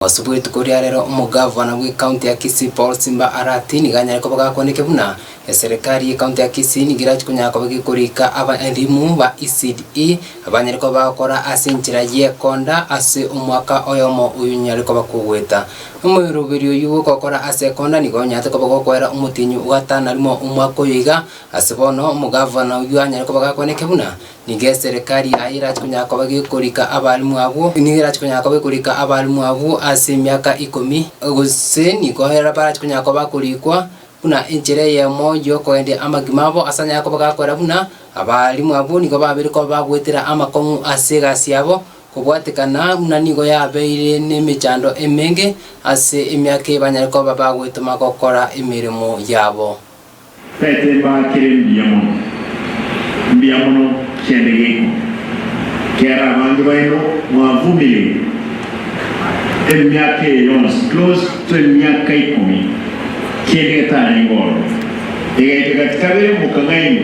Ase bwetuko ria rero omogavana bwe county ya Kisii Paul Simba Arati nigo anyare koba gakwanete buna eserekari ye county ya Kisii nigo erache konyara koba gekorika aba elimu ba ECDE abanyare koba bagokora ase enchera y'ekonda ase omwaka oyomo oyo nyare koba kogoeta. Omoiroberi oyio gokokora ase ekonda nigo onyarete koba gokoera omotienyi ogatana rimo omwaka oyo iga ase bono omogavana oyio anyare koba gakwanete buna Nigo eserekari yaye erache konyara koba gekorika abalimu abwo, nigo erache konyara koba ekorika abalimu abwo ase emiaka ikomi, gose nigo barache konyara koba bakorikwa buna enchera eyemo y'okogenderia amagima abo, ase anyare koba gakora buna abalimu abwo nigo babeire koba bagoetera amakong'u ase egasi yabo, kobwatekana buna nigo yabeire nemechando emenge ase emiaka eye banyare koba bagoetoma gokora emeremo yabo. Tete mbaa kere mbuya mono, mbuya mono kiande geiko, kiara abange baino mwavumireire emiaka eye yonsi, close to emiaka ikomi, kiende getarenge ororo, egaika gati kabere mokang'ainwa.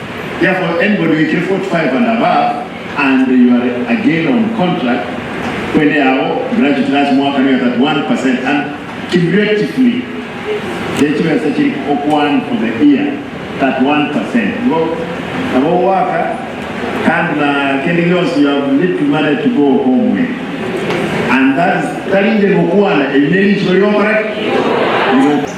Therefore, anybody who ekire 45 and above and you are again on contract, kwende yao graduate last mwaka nigo 31 per cent and cumulatively ne chibesa chiri okoan for the year 31 per cent nigo nabo ogoaka kandi na kende gionsi you have little money to go home with and that is tari inche ngokuana, eri nerichiiko rigokora ki? Rigokora.